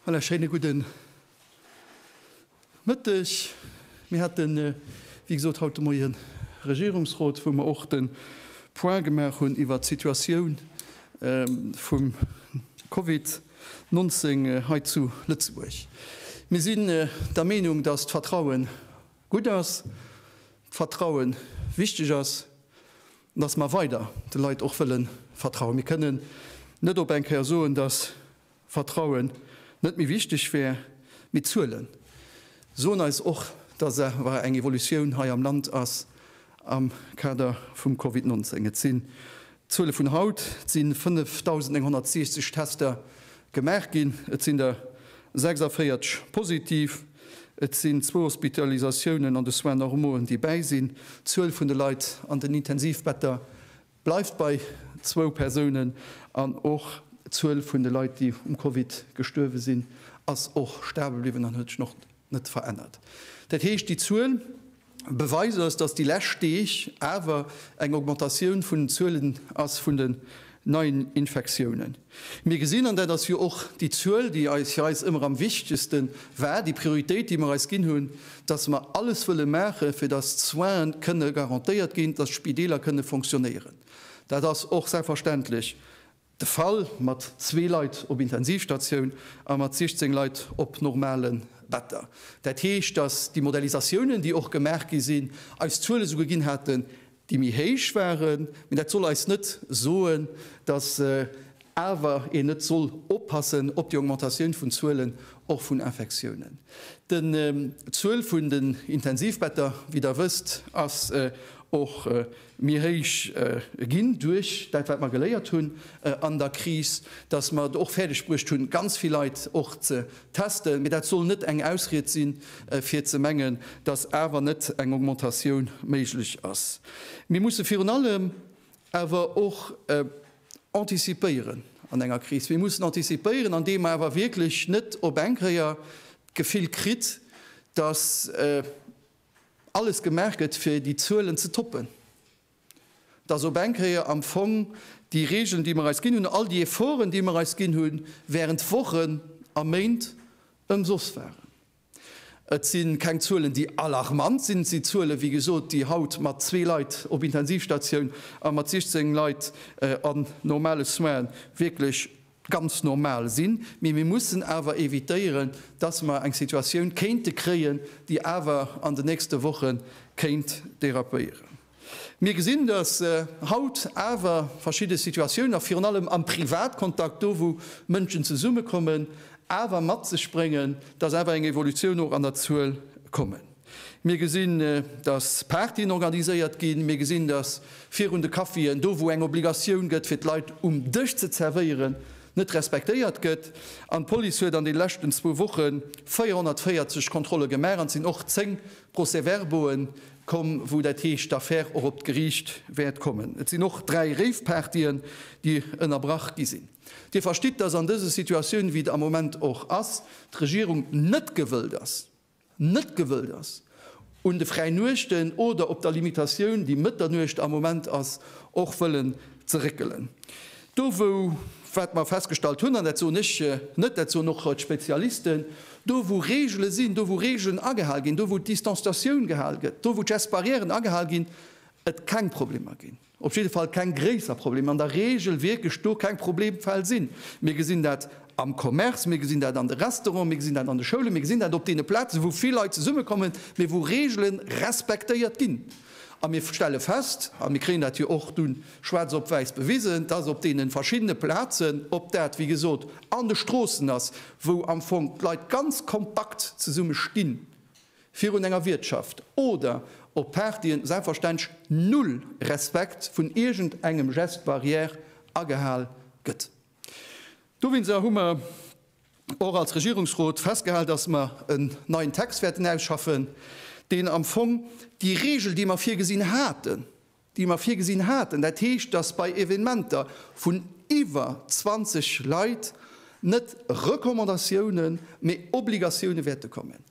Voilà, schéine gudden Mëtteg. Mir haten, äh, wéi gesot, haut de Moien Regierungsrot, wou mer och de Point gemaach hunn iwwert d'Situatioun, ähm, vum Covid. 19 hei zu Lëtzebuerg. Mir sinn der Meenung, dass d'Vertrauen gutt ass, d'Vertrauen wichteg ass an dass mer weider de Leit och wëlle vertrauen. Mir kënnen net op eng Kéier soen, dass Vertrauen net méi wichteg wär. Mee d'Zuele soen eis och, dass awer eng Evolutioun hei am Land ass am Kader vum Covid 19. Et si D'Zuele vun haut, Et si 5.960 Tester gemaach ginn, et sinn der 46 positiv, et sinn zwou Hospitalisatiounen an de Soins normauen, déi bäi sinn. D'Zuel vun de Leit an den Intensivbetter bleift bei zwou Persounen an och d'Zuel vun de Leit, déi um Covid gestuerwe sinn, ass och stabel bliwwen an huet sech och net verännert. Dat heescht, déi Zuel. Beweis ass, dass déi lescht Deeg awer eng Augmentatioun vun den Zuelen ass vun den neien Infektiounen. Mir gesinn, an dat ass jo och déi Zuel, déi eis fir eis ëmmer am wichtegste war, déi Prioritéit, déi mer eis ginn hunn, dass mer alles wëlle maachen, fir dass d'Soine kënne garantéiert ginn, dass d'Spideeler kënne fonctionnéieren. Dat ass och selbstverständlech De Fall mat zwee Leit op Intensivstatioun a mat 16 Leit op normale Better. Dat heescht, datt déi Modellisatiounen, déi och gemaach gi sinn, eis Zuele souguer ginn haten, déi méi héich waren. Mee dat soll eis net soen, datt awer een net soll oppassen op déi Augmentatioun vun Zuelen, och vun Infektiounen. D'Zuel vun den Intensivbetter, wéi Der wësst, ass och, méi héich ginn duerch dat, wat mer geléiert hunn an der Kris, dass mer et och fäerdeg bruecht hunn, ganz vill Leit och ze testen. Mee dat soll net eng Ausried sinn, fir ze mengen, dass awer net eng Augmentatioun méiglech ass. Mir musse virun allem awer och antizipéieren an enger Kris. Mir mussen antizipéieren, andeem mer awer wierklech net op eng Kéier d'Gefill kritt, dass, alles gemaach gëtt fir déi Zuelen ze toppen, dass op eng Kéier am Fong déi Regeln, déi mer eis ginn hunn, all déi Efforten, déi mer eis ginn hu während Wochen a Méint, ëmsoss waren. Et si keng Zuelen, déi alarmant sinn. Et si Zuelen, wéi gesot, déi haut mat zwee Leit op Intensivstatioun a mat 16 Leit an normale Soinen wierklech, ganz normal sinn, mee mir mussen awer evitéieren, dass mer eng Situatioun kéinte kréien, déi awer an den nächste Woche kéint dérapéieren. Mir gesinn, dass haut awer verschidde Situatiounen, a virun allem am Privatkontakt, do wou Mënschen zesummekommen, awer mat sech bréngen, dass awer eng Evolutioun och an der Zuel kommen. Mir gesinn, datt Partyen organiséiert ginn. Mir gesinn, datt virun de Caféen, do wou eng Obligatioun gëtt, fir d'Leit um Dësch ze zerwéieren, net respektéiert gëtt. An d'Police huet an de leschten zwou Woche 440 Kontrolle gemaach an et sinn och zéng Procès-verbaue komm, wou dat heescht d'Affär och op d'Geriicht wäert kommen. Et sinn och dräi Rave-Partyen, déi ënnerbrach gi sinn. Dir verstitt, datt an dëse Situatioun, wéi et am Moment och ass, d'Regierung net gewëllt ass, net gewëllt ass, un de Fräinuechten oder op der Limitatioun, déi Mëtternuecht am Moment ass, och wëllen ze réckelen. Do wou, wat mer festgestallt hunn, an dat soen ech net, dat soen och d'Spezialisten, do wou Reegele sinn, do wou Reegelen agehal ginn, do wou d'Distanstatioun gehal gëtt, do wou d'Gestbarrièren agehal ginn, et keng Problemer ginn. op jidde Fall keng gréisser Problemer, an der Regel wierklech do keng Problemfäll sinn. Mir gesinn dat am Commerce, mir gesinn dat an de Restauranten, mir gesinn dat an de Schoulen, mir gesinn dat op deene Plazen, wou vill Leit zesummekommen, mee wou Regele respektéiert ginn. A mir stelle fest, a mir kréien dat jo och dunn schwaarz op wäiss bewisen, dass op deene verschiddene Plazen, ob dat, wéi gesot, an de Stroossen ass, wou am Fong d'Leit ganz kompakt zesumme stinn, virun enger Wiertschaft oder op Partyen selbstverständlech null Respekt vun iergend engem Geste barrière agehal gëtt. Dowinser hu mer och als Regierungsrot festgehal, dass mer en neien Text wäerten ausschaffen, deen am Fong déi Regel, déi mer virgesinn haten, déi mer virgesinn haten, dat heescht, dass bei Evenementer vun iwwer 20 Leit net Recommandatiounen, mä Obligatioune wäerte kommen.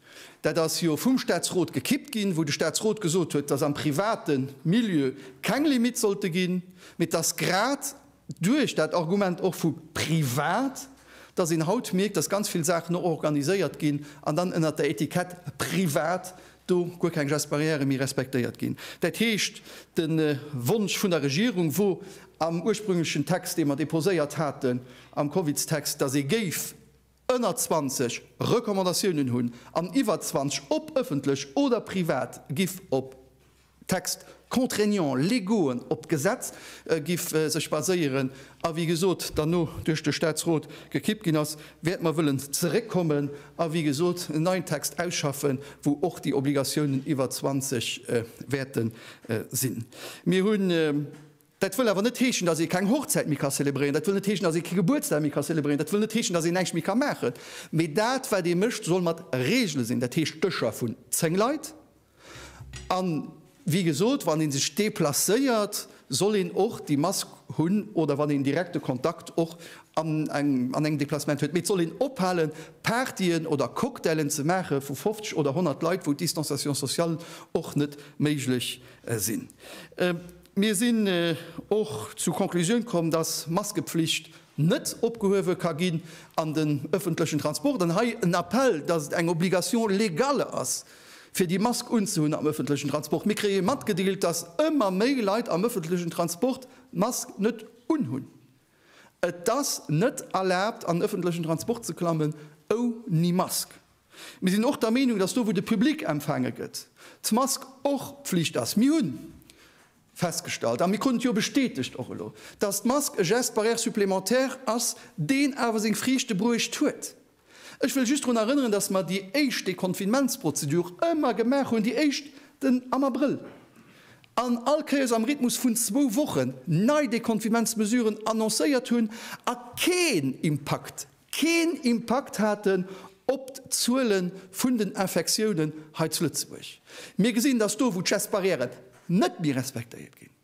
Dat ass jo vum Statsrot gekippt ginn, wou de Statsrot gesot huet, dass am private Milieu keng Limitte sollte ginn, mä dass grad Duerch dat Argument och vu privat, dass een haut mierkt, dass ganz vill Saachen och organiséiert ginn an dann ënnert der Etikett privat do guer keng Gestes barrières méi respektéiert ginn. Dat heescht, de Wonsch vun der Regierung wor am ursprünglechen Text, dee mer déposéiert haten am Covidstext, dass ee géif ënner 20 Recommandatiounen hunn an iwwer 20, ob ëffentlech oder privat, giff op Textes contraignants légauxen, op d'Gesetz giff sech baséieren a wéi gesot dann no duerch de Statsrot gekippt ginn ass, wäerte mer wëllen zeréckkommen a wéi gesot en neien Text ausschaffen, wou och déi Obligatiounen iwwer 20 wäerte sinn. Mir hunn. Dat wëll awer net heeschen, dass ee keng Hochzäit méi ka zelebréieren, dat wëll net heeschen, dass ee kee Gebuertsdag méi ka zelebréieren, dat wëll net heeschen, dass een näischt méi ka maachen, mee dat wat ee mécht, soll mat Reegele sinn, dat heescht Dëscher vun 10 Leit an, wéi gesot, wann ee sech deplacéiert, soll een och déi Mask hunn oder wann een direkte Kontakt och an engem Deplacement huet. Mee et soll een ophalen, Partyen oder Cocktailen ze maache vu 50 oder 100 Leit, wou d'Distanciation sociale och net méiglech sinn. Mir sinn och zu Conclusioun komm, dass Maskepflicht net opgehuewe ka ginn an den ëffentlechen Transport. An hei en Appell, dass et eng Obligation légale ass, fir déi Mask unzehunn am ëffentlechen Transport. Mir kréie matgedeelt, dass ëmmer méi Leit am ëffentlechen Transport d'Mask net unhunn. Et ass net erlaabt an ëffentlechen Transport ze klammen ouni Mask. Mir sinn och der Meenung, datt do wou de Public empfaange gëtt, d'Mask och Pflicht ass. Mir hu festgestallt, a mir kruten et jo bestätegt och elo, datt d'Mask e Geste barrière supplémentaire ass, deen awer seng Friichte bruecht huet. Ech wëll just drun erënneren, dass mer déi éischt Deconfinementsprozedur ëmmer gemaach hunn, déi éischt den am Abrëll, an all Kéiers am Rhythmus vun zwou Wochen, nei Deconfinementsmesuren annoncéiert hunn a keen Impakt, keen Impakt haten op d'Zuele vun den Infektiounen hei zu Lëtzebuerg. Mir gesinn, dass do, wou d'Gestbarrièren net méi respektéiert ginn,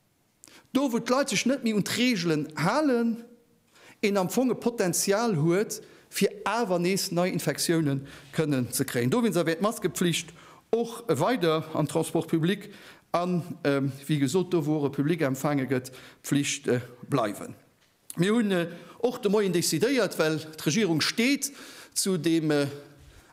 Do wou d'Leit sech net méi un d'Reegelen halen, een am Fong e Potenzial huet fir awer nees nei Infektiounen kënnen ze kréien. Dowéinster wär d'Maskepflicht och weider am Transport public an, wéi gesot, do wou och e Public empfaange gëtt, Pflicht bleiwen. Mir hunn och de Moien decidéiert, well d'Regierung steet zu deem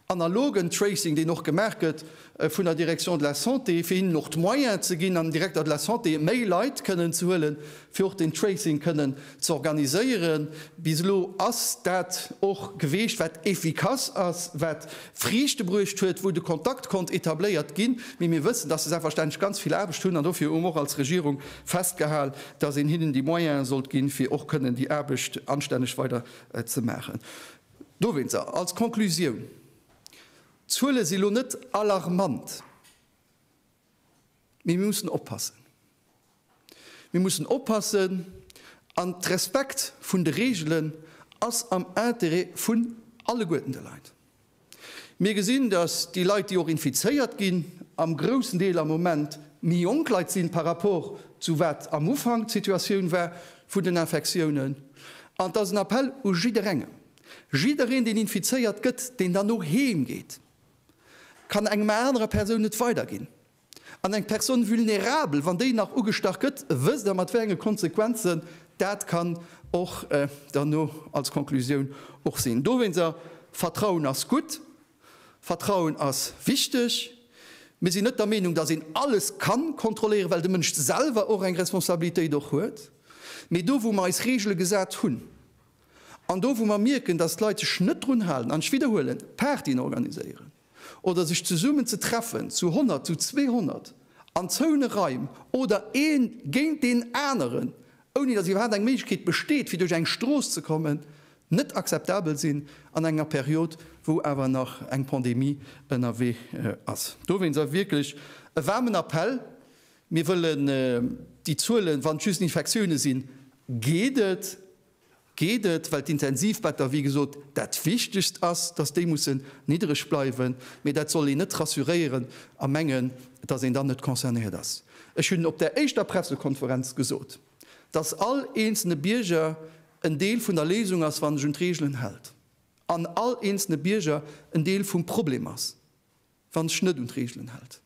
analogen Tracing, deen och gemaach gëtt vun der Direction de la Santé, fir hinnen och d'Moyen ze ginn, am Directeur de la Santé méi Leit kënnen ze huelen, fir och deen Tracing kënnen ze organiséieren. Bis elo ass dat och geweecht, wat efficace ass, wat Friichte bruecht huet, wou de Kontakt konnt etabléiert ginn. Mee mir wëssen, dass se selbstverständlech ganz vill Aarbecht hunn an dofir hu mer och als Regierung festgehal, dass een hinnen déi Moyene sollt ginn, fir och kënnen déi Aarbecht anstänneg weider ze maachen. Dowéinster, als Conclusioun, D'Zuele si lo net alarmant, mee mir mussen oppassen. Mir mussen oppassen an d'Respekt vun de Reegelen ass am Intérêt vun alleguerten de Leit. Mir gesinn, dass déi Leit, déi och infizéiert ginn, am groussen Deel am Moment méi jonk Leit sinn par rapport zu wat am Ufank d'Situatioun war vun den Infektiounen. An et ass en Appell u jidderengem, Jiddereen, deen infizéiert gëtt, deen dann och heem geet, kann engem anerer Persoun et weiderginn. An eng Personne vulnérable, wann déi nach ugestach gëtt, wësst Der, mat wéi enge Konsequenzen dat kann och derno als Konklusioun och sinn. Dowéinster, Vertrauen ass gutt, Vertrauen ass wichteg. Mir sinn net der Meenung, dass een alles ka kontrolléieren, well de Mënsch selwer och eng Responsabilitéit och huet. Mee do, wou mer eis Regele gesat hunn an do, wou mer mierken, dass d'Leit sech net drun halen, an ech widderhuelen, Partyen organiséieren, oder sech zesummen ze treffen, zu 100, zu 200, an zoune Raim oder ee géint deen aneren, ouni datt iwwerhaapt eng Méiglechkeet besteet fir duerch eng Strooss ze kommen, net akzeptabel sinn an enger Period wou awer nach eng Pandemie ënnerwee ass. Dowéinst ass wierklech e waarmen Appell, mir wëllen déi Zuelen, wann et just Infektioune sinn, geet et, geet et, well d'Intensivbetter, wéi gesot, dat Wichtegst ass, dass déi mussen niddereg bleiwen, mee dat soll een net rassuréieren a mengen, dass een dann net concernéiert ass. Ech hunn op där éischter Pressekonferenz gesot, dass all eenzelne Bierger en Deel vun der Léisung ass, wann sech un d'Reegelen hält, an all eenzelne Bierger en Deel vum Problem ass. wann sech net un d'Reegelen hält.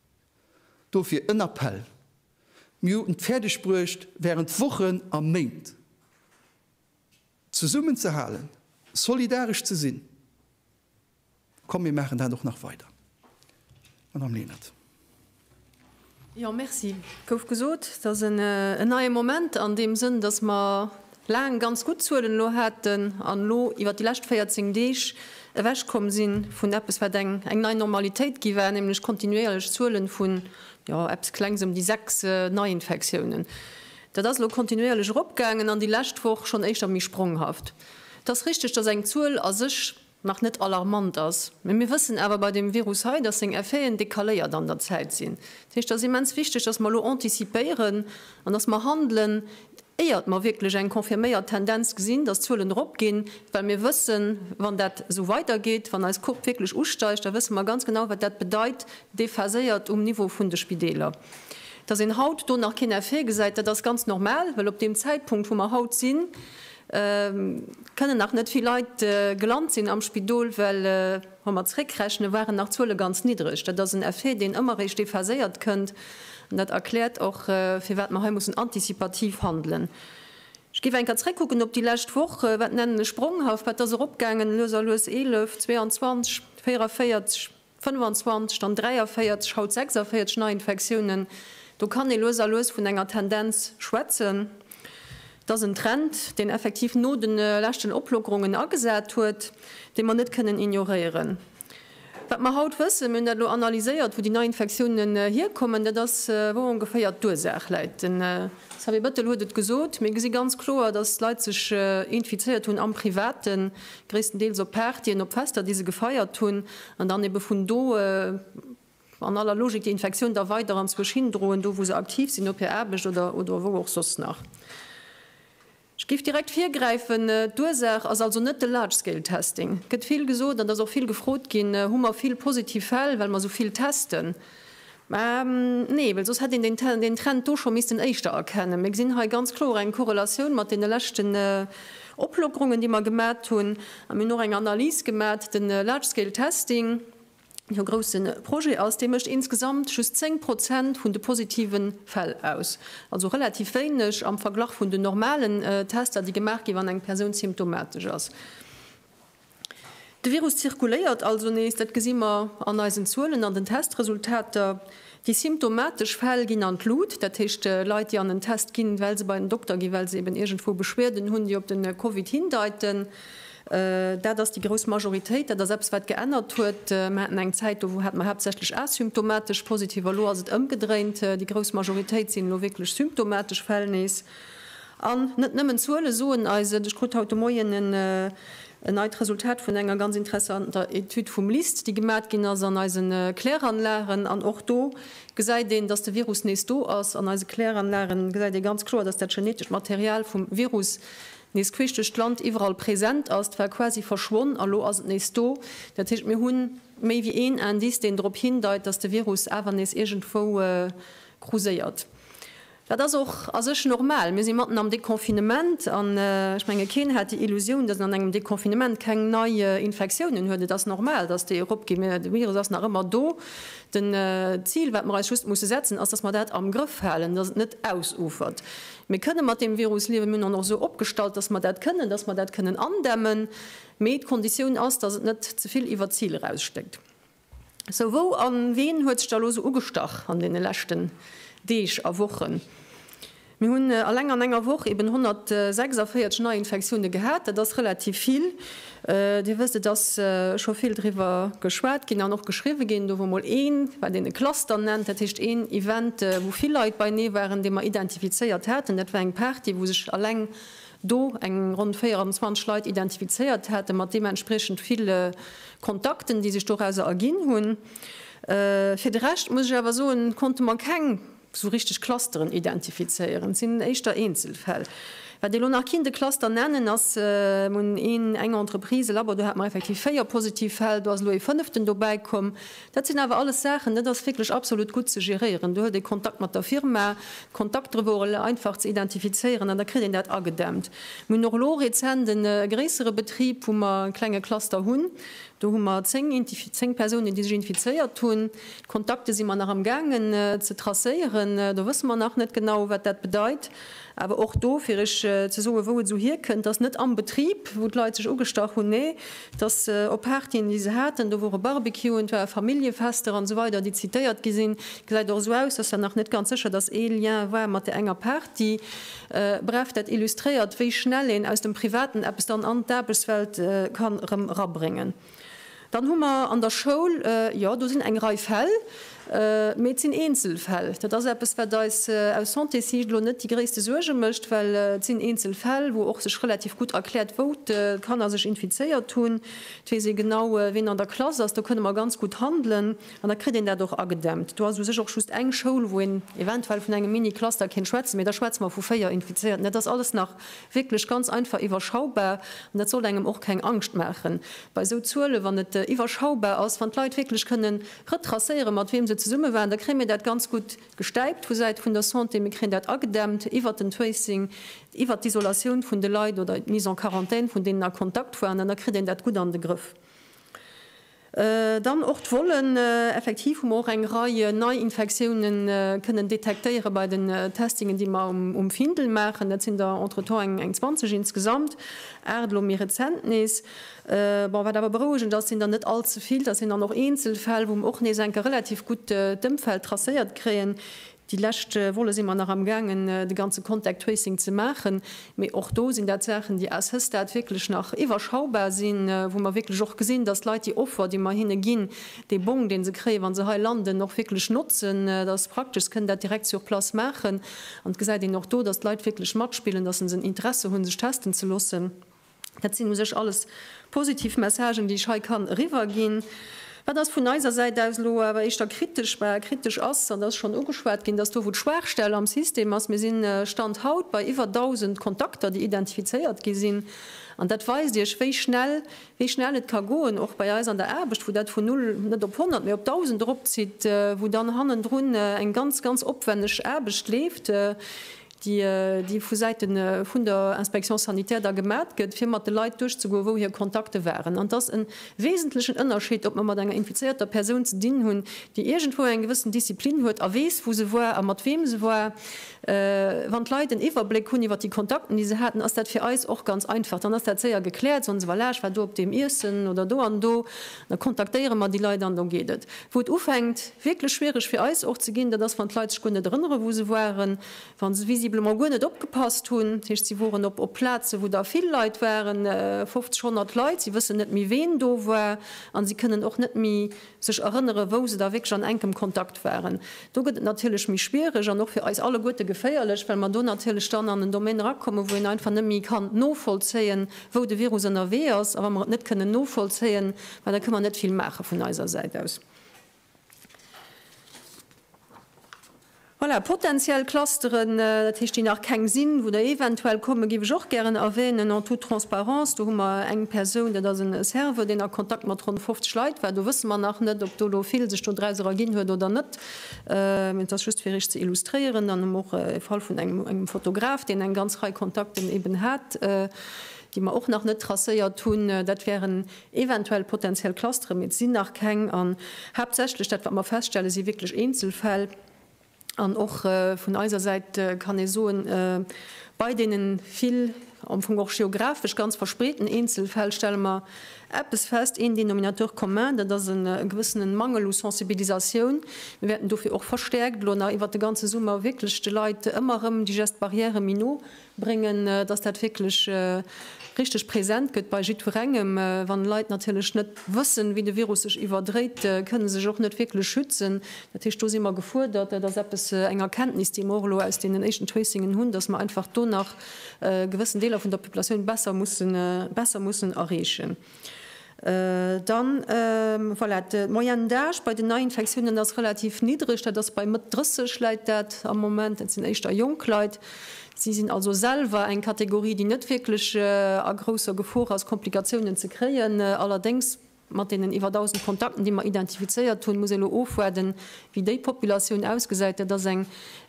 Dofir en Appell, Mir hunn et fäerdeg bruecht während Wochen a Méint zesummen ze halen, solidaresch ze sinn. Komm mir maachen dat och nach weider. Madame Lenert. Jo, merci. Gouf gesot, et ass en neie Moment an deem Sënn, datt mer laang ganz gutt Zuelen elo haten an elo iwwert déi lescht 14 Deeg ewechkomm si vun eppes, wat eng nei Normalitéit gi war, nämlech kontinuéierlech Zuelen vu, jo, eppes Klengs ëm déi sechs Neiinfektiounen. Dat ass elo kontinuéierlech eropgaangen an déi lescht Woch schonn éischter méi spronghaft. Et ass richteg, datt eng Zuel a sech nach net alarmant ass, mee mir wëssen awer bei deem Virus hei, dass seng Effeten décaléiert an der Zäit sinn. Dat heescht, et ass immens wichteg, dass mer elo anticipéieren an dass mer handelen, éiert mer wierklech eng confirméiert Tendenz gesinn, dass d'Zuelen erop ginn, well mir wëssen, wann dat esou weidergeet, wann eis Courbe wierklech usteigt, da wësse mer ganz genau, wat dat bedeit, déphaséiert um Niveau vun de Spideeler. Dass een haut do nach keen Effet gesäit, dat ass ganz normal, well op deem Zäitpunkt, wou mer haut sinn, Kënnen nach net vill Leit gelant sinn am Spidol, well wa mer zréckrechnen, waren nach d'Zuele ganz niddreg. Dat ass en Effet, deen ëmmer eréischt déphaséiert kënnt, an dat erkläert och, firwat mer hei mussen antizipativ handelen. Ech géif eng Kéier zréckkucken op déi lescht Woch, wat nennen ech spronghaft, wat ass eropgaangen, lues a lues 11, 22, 44. 25, dann 43, haut 46 Neiinfektiounen. Do kann ee lues a lues vun enger Tendenz schwätzen. Et ass en Trend, deen effektiv no de leschten Oplockerungen agesat huet, dee mer net kënnen ignoréieren. Wat mer haut wëssen, mir hunn dat elo analyséiert, wou déi Neiinfektiounen hierkommen, dat ass, wou ongeféier d'Ursaach läit. Den Xavier Bettel huet et gesot, Mir gesi ganz kloer, datt d'Leit sech infizéiert hunn am Privaten, gréisstendeels op Partyen, op Fester, déi se gefeiert hunn, an dann ebe vun do an aller Logik déi Infektioun da weider anzwousch hindroen, do wou se aktiv sinn, op hir Aarbecht oder wou och soss nach. Ech géif direkt virgräifen, d'Ursaach ass also net de Large-Scale-Testing. Et gëtt vill gesot, an et ass och vill gefrot ginn, Hu mer vill positiv Fäll, well mer esou vill testen? Mä nee, well soss hätt een deen Trend do scho missten éischter erkennen. Mir gesinn hei ganz kloer eng Korrelatioun mat deene leschten Oplockerungen, déi mer gemat hunn. A mir hunn och eng Analys gemat, de Large Scale Testing, deen jo e grousse Projet ass, dee mécht insgesamt just 10 Prozent vun de positive Fäll aus. Also relativ wéineg am Verglach vun den normalen Tester, déi gemaach gi wann eng Persoun symptomatesch ass. De Virus zirkuléiert also nees, dat gesi mer an eisen Zuelen, an den Testresultater. Déi symptomatesch Fäll ginn an d'Lut, dat heescht Leit, déi an en Test ginn, well se bei den Dokter ginn, well se eben iergendwou Beschwierden hunn, déi op de Covid hindeiten. Dat ass déi grouss Majoritéit. Dat ass eppes, wat geännert huet. Mer haten eng Zäit, do hate mer haaptsächlech asymptomatesch Positiv, a lo ass et ëmgedréint, déi grouss Majoritéit sinn elo wierklech symptomatesch Fäll nees. An net nëmmen d'Zuele soen eis et. Ech krut haut de Moien en neit Resultat vun enger ganz interessanter Etüd vum LIST, déi gemat ginn ass an eise Kläranlagen. An och do gesäit een, datt de Virus nees do ass. An eise Kläranlage gesäit ee ganz kloer, datt dat genetescht Material vum Virus nees queesch duerch d'Land iwwerall present ass. Dat war quasi verschwonn a lo ass et nees do. Dat heescht, mir hu méi wéi een Indice, deen drop hindeit, datt de Virus awer nees iergendwou gruséiert. Dat ass och a sech normal. Mir si matten am Deconfinement an ech menge keen hat déi Illusioun, datt een an engem Deconfinement keng nei Infektiounen huet. Et ass normal, datt déi eropginn. Mä de Virus ass nach ëmmer do. Den d'Zil wat mer eis just musse setzen ass, datt mer dat am Grëff halen, datt et net ausufert. Mir kënne mat deem Virus liewen. Mir hunn en och esou opgestallt, datt mer dat kënnen, datt mer dat kënnen andämmen. Mee d'Konditioun ass, datt et net zevill iwwert d'Zil eraus stéckt. Sou, wou a ween huet sech da elo sou ugestach an deene leschten Deeg a Wochen? Mir hunn alleng an enger Woch eben 146 Neiinfektioune gehat. Dat ass relativ vill. Dir wësst, et ass scho vill driwwer geschwat ginn an och geschriwwe ginn. Do wor mol ee, wat een e Cluster nennt, dat heescht een Event, wou vill Leit beienee waren, dee mer identifizéiert haten. Dat war eng Party, wou sech alleng do eng ronn 24 Leit identifizéiert hätten, mat deementspriechend ville Kontakten, déi sech dorauser erginn hunn. Fir de Rescht, muss ech awer soen, konnte mer keng esou richteg Clusteren identifizéieren. Et sinn éischter Eenzelfäll. Wat elo nach kinnt e Cluster nennen, ass mol een, eng Entreprise, e Labo, do hate mer effektiv véier positiv Fäll, do ass elo ee fënneften dobäikomm. Dat sinn awer alles Saachen, dat ass wierklech absolut gutt ze geréieren. Do huet ee Kontakt mat der Firma, Kontakt dru wor elo einfach ze identifizéieren an da kritt een dat agedämmt. Mir hunn och elo rezent e gréissere Betrib, wou mer e klenge Cluster hunn. Do hu mer zéng Intif zéng Persounen, déi sech infizéiert hunn. D'Kontakte si mer nach amgaangen ze tracéieren. Do wësse mer nach net genau, wat dat bedeit. Awer och do, fir Iech ze soen, wou et esou hierkënnt, dass net am Betrib, wou d'Leit sech ugestach hunn, nee, dass se op Partyen, déi se haten, do wor e Barbecue, et ware Familljefester an esou weider, déi zitéiert gi sinn, gesäit och esou aus, dass dat nach net ganz sécher, dass ee Lien war mat där enger Party. Bref, dat illustréiert, wéi schnell een aus dem Privaten eppes dann an d'Aarbechtswelt kann erëm rabréngen. Dann hu mer an der Schoul, jo, do sinn eng Rei Fäll, mee et sinn Eenzelfäll. Dat ass eppes, wat eis aus Santésich elo net déi gréisste Suerge mécht, well et sinn Eenzelfäll, wou och sech relativ gutt erkläert, wou d'Kanner sech infizéiert hunn. Et weess ee genau, wien an der Klass ass. Do kënne mer ganz gutt handelen an da kritt een dat och agedämpt. Do ass u sech och just eng Schoul, wou een eventuell vun engem Mini-Cluster kéint schwätzen, mee da schwätze mer vu véier Infizéierten. Dat ass alles nach Wierklech ganz einfach iwwerschaubar. An dat sollt engem och keng Angscht maachen bei esou Zuelen, wann et iwwerschaubar ass. Wann d'Leit wierklech kënnen retracéieren, mat wiem se zesumme waren, da kréie mir dat ganz gutt gestäipt vu Säit vun der Santé. Mir kréien dat agedämmt iwwert den Tracing, iwwert d'Isolatioun vun de Leit oder d'Mise en quarantaine vun deenen a Kontakt waren. An da kritt een dat gutt an de Grëff. Dann och d'Vollen, Effektiv hu mer och eng Rei Neiinfektioune kënnen detektéiere bei den Testingen, déi mer um Findel maachen. Dat sinn der entretemps eng 20 insgesamt, aacht elo méi rezent nees. Bon, wat awer berouegend ass, sinn der net all ze vill. Dat sinn dann och eenzel Fäll, wou mer och nees eng Kéier relativ gutt d'Ëmfeld tracéiert kréien. Déi lescht Woche si mer nach am gaangen de ganze Contact Tracing ze maachen, mee och do sinn dat Saachen, déi à ce stade wierklech nach iwwerschaubar sinn, wou mer wierklech och gesinn, dass d'Leit déi Offer, déi mer hinne ginn, dee Bong, dee se kréien, wa se hei landen, och wierklech notzen. Dat ass praktesch, se kënnen dat direkt sur place maachen an et gesäit een och do, dass d'Leit wierklech matspillen, dass se en Interesse hunn, sech testen ze loossen. Dat sinn u sech alles positiv Messagen, déi ech hei kann eriwwerginn. Wat ass vun eiser Säit aus elo awer éischter kritesch war, kritesch ass, an dat ass schonn ugeschwat ginn, dass do, wou d'Schwaachstell am System ass, mir si Stand haut bei iwwer 1.000 Kontakter, déi identifizéiert gi sinn, an dat weist Iech, wéi schnell, wéi schnell et ka goen, och bei eis an der Aarbecht, wou dat vun null net op honnert, mee op dausend eropzitt, wou dann hannendrun eng ganz, ganz opwänneg Aarbecht leeft. déi vu Säite vun der Inspection sanitaire da gemat gëtt, fir mat de Leit duerchzegoen, wou hir Kontakte waren. An et ass e wesentlechen Ënnerscheed, ob mer mat enger infizéierter Persoun ze dinn hunn, déi iergendwou eng gewëssen Disziplin huet a weess, wou se war a mat weem se war. Wann d'Leit en Iwwerbléck hunn iwwer déi Kontakten, déi se haten, ass dat fir eis och ganz einfach. Dann ass dat séier gekläert, soen se, Voilà, ech war do op deem Iessen oder do an do. Da kontaktéiere mer déi Leit an do geet et. Wou et ufänkt wierklech schwiereg fir eis och ze ginn, dat ass wann d'Leit sech guer net erënneren, wou se waren, wa se visiblement guer net opgepasst hunn. Dat heescht, si woren op Plazen, wou der vill Leit waren, 50, 100 Leit, si wëssen net méi ween do war a si kënnen och net méi sech erënneren, wou se da wierklech an enkem Kontakt waren. Do gëtt et natierlech méi schwiereg an och fir eis alleguerte geféierlech, well mer do natierlech dann an en Domaine erakommen, wou een einfach net méi kann novollzéien, wou de Virus ënnerwee ass, a wa mer et net kënnen novollzéien, ma da kënne mer net vill maache vun eiser Säit aus. Voilà, potenziell Clusteren, dat heescht, déi nach keng sinn, wou der eventuell kommen, géif ech och gären erwänen, en toute transparence, do hu mer eng Persoun, dat ass e Serveur, deen a Kontakt mat ronn 50 Leit war, do wësse mer nach net, ob do elo vill sech dodraus erginn huet oder net. Et ass just fir Iech ze illustréieren, dann hu mer och e Fall vun engem Fotograf, deen eng ganz Rei Kontakten eben hat, déi mer och nach net tracéiert hunn. Dat wären eventuell potentiell Clustere, mee et sinn nach keng. An haaptsächlech dat, wat mer feststellen, si wierklech Eenzelfäll. An och vun eiser Säit kann ee soen, bei deene vill, am Fong och geografesch ganz verspreeten Eenzelfäll stelle mer Eppes fest, een Dénominateur commun, dat ass e gewëssene Mangel u Sensibilisatioun. Mir wäerten dofir och verstäerkt elo nach iwwert de ganze Summer wierklech de Leit ëmmer erëm déi Gestes barrières méi no bréngen, dass dat wierklech richteg present gëtt bei jiddwerengem. Wann Leit natierlech net wëssen, wéi de Virus sech iwwerdréit, kënne sech och net wierklech schützen. Dat heescht, do si mer gefuerdert, dat ass eppes, eng Erkenntnis, déi mer och elo aus deenen éischten Tracingen hunn, dass mer einfach do nach gewëssen Deeler vun der Populatioun besser mussen, besser mussen erreechen. Dann, voilà, de Moyenne d'âge bei den Neiinfektiounen ass relativ niddreg, dat ass bei Mëtt 30 läit dat am Moment, dat sinn éischter jonk Leit. Si sinn also selwer eng Kategorie, déi net wierklech a grousser Gefor ass, Komplikatiounen ze kréien. Allerdéngs Mat deenen iwwer 1.000 Kontakten, déi mer identifizéiert hunn, muss ee lo ofwaarden, wéi déi Populatioun ausgesäit. Dat ass eng,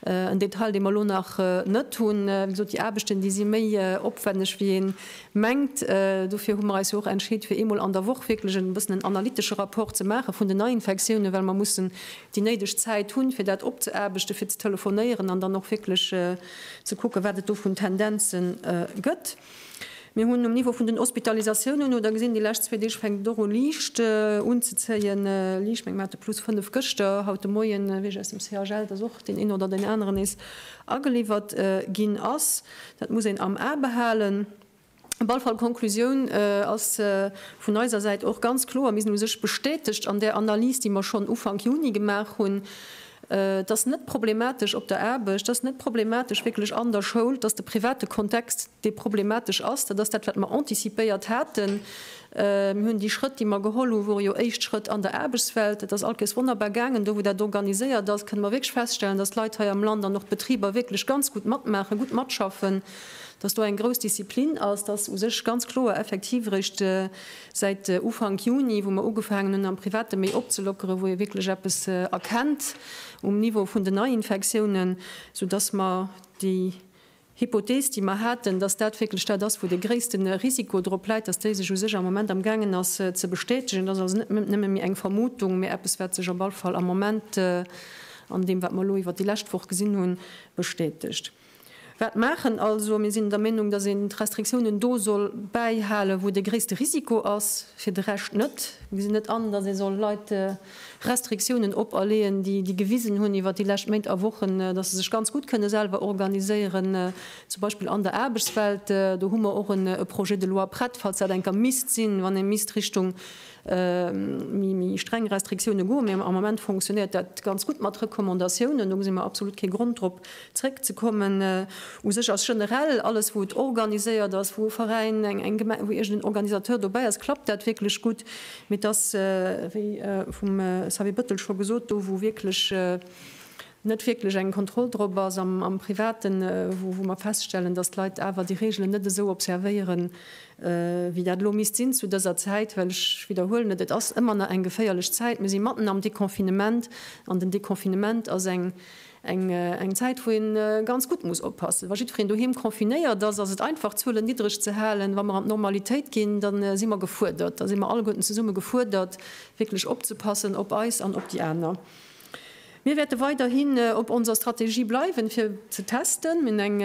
en Detail, dee mer lo nach net hunn. Wéi gesot, déi Aarbechten, déi si méi opwänneg, wéi ee mengt. Dofir hu mer eis jo och entscheet, fir eemol an der Woch wierklech e bëssen en analytesche Rapport ze maache vun den Neiinfektiounen, well mer mussen déi néideg Zäit hunn, fir dat opzeaarbechten, fir ze telefonéieren an dann och wierklech ze kucken, wat et do vun Tendenze gëtt. Mir hunn um Niveau vun den Hospitalisatiounen, no der gesinn, déi lescht zwee Deeg fänkt et och u liicht unzezéien, liicht, mengen mer hate plus fënnef gëschter, haut de Moien, wéi ech aus dem CHL, dass och deen een oder deen aneren nees ageliwwert ginn ass. Dat muss een am A behalen. Op alle Fall, d'Konklusioun ass vun eiser Säit och ganz kloer, mir sinn u sech bestätegt an där Analys, déi mer schonn Ufank Juni gemaach hunn, Et ass net problematesch op der Aarbecht, et ass net problematesch wierklech an der Schoul. Et ass de private Kontext, dee problematesch ass. Dat ass dat, wat mer anticipéiert haten. Mir hunn déi Schrëtt, déi mer geholl hunn, wore jo éischt Schrëtt an der Aarbechtswelt. Dat ass all Kéiers wonnerbar gaangen. Do, wou dat organiséiert ass, kënne mer wierklech feststellen, dass d'Leit hei am Land an och d'Betriber wierklech ganz gutt matmaachen, gutt matschaffen, dass do eng grouss Disziplin ass, dass u sech ganz kloer effektiv eréischt Säit Ufank Juni, wou mer ugefaangen hunn am Private méi opzelockeren, wou ee wierklech eppes erkennt um Niveau vun den Neiinfektiounen, soudass mer déi Hypothees, déi mer haten, dass dat wierklech dat ass, wou dee gréisste Risiko drop läit, dass déi sech u sech am Moment am gaangen ass ze bestätegen. Dat ass also net nëmme méi eng Vermutung, mä eppes, wat sech op alle Fall am Moment an deem, wat mer elo iwwert déi lescht Woch gesinn hunn, bestätegt. Wat maachen? Also mir sinn der Meenung, datt een d'Restriktiounen do soll bäihalen, wou de gréisste Risiko ass, fir de Rescht net. Mir gesinn net an, datt ee soll Leit Restriktiounen operleeën, déi gewisen hunn iwwer déi lescht Méint a Wochen, datt se sech ganz gutt kënne selwer organiséieren, zum Beispill an der Aarbechtswelt. Do hu mer och e Projet de loi prett, falls dat eng Kéier misst sinn, wann ee misst Richtung Méi streng Restriktioune goe mir. Am Moment fonctionnéiert dat ganz gutt mat Recommandatiounen. Do gesi mir absolut kee Grond drop zréckzekommen. U sech ass generell alles wou et organiséiert ass, wou e Veräin, eng eng Gemeng, wou iergendeen Organisateur dobäi ass, klappt dat wierklech gutt. Mee et ass, wéi vum Xavier Bettel scho gesot, do wou wierklech net wierklech eng Kontroll drop ass am Privaten, wou mer feststellen, dass d'Leit awer déi Reegelen net esou observéieren, wéi dat elo misst sinn zu dëser Zäit. Well ech widderhuelen et, et ass ëmmer nach eng geféierlech Zäit. Mir si matten am Deconfinement an den Deconfinement ass eng Zäit, wou ee ganz gutt muss oppassen. Wa jiddwereen doheem confinéiert ass, ass et einfach d'Zuelen niddreg ze halen. Wa mer an d'Normalitéit ginn, da si mer gefuerdert, da si mer alleguerten zesumme gefuerdert, wierklech opzepassen op eis an op déi aner. Mir wäerte weiderhin op onser Strategie bleiwen, fir ze testen. Mir hunn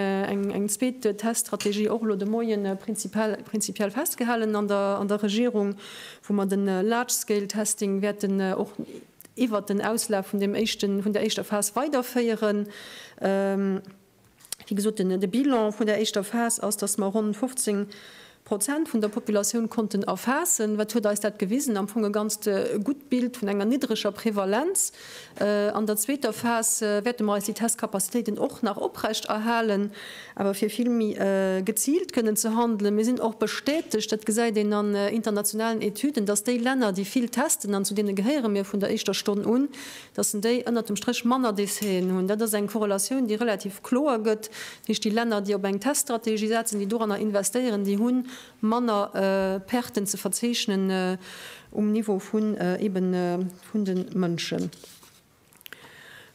eng zweet Teststrategie och elo de Moie prinzipiell festgehalen an der Regierung, wou mer de Large-Scale-Testing wäerten och iwwert den Auslaf vun der éischter Phas weiderféieren. Wéi gesot, de Bilan vun der éischter Phas ass, dass mer ronn 15 Prozent vun der Populatioun konnten erfaassen. Wat huet eis dat gewisen? Am Fong e ganzt gutt Bild vun enger niddreger Prevalenz. An der zweeter Phas wäerte mer eis déi Testcapacitéiten och nach oprechterhalen, awer fir vill méi geziilt kënnen ze handelen. Mir sinn och bestätegt, dat gesäit een an internationalen Etüden, dass déi Länner, déi vill testen, an zu deene gehéiere mir vun der éischter Stonn un, dass en déi ënnert dem Stréch manner Décéen hunn. Dat ass eng Korrelatioun, déi relativ kloer gëtt. Dat heescht, déi Länner, déi op eng Teststrategie setzen, déi doranner investéieren, déi hu manner Perten ze verzeechnen um Niveau vun eeben vun de Mënschen.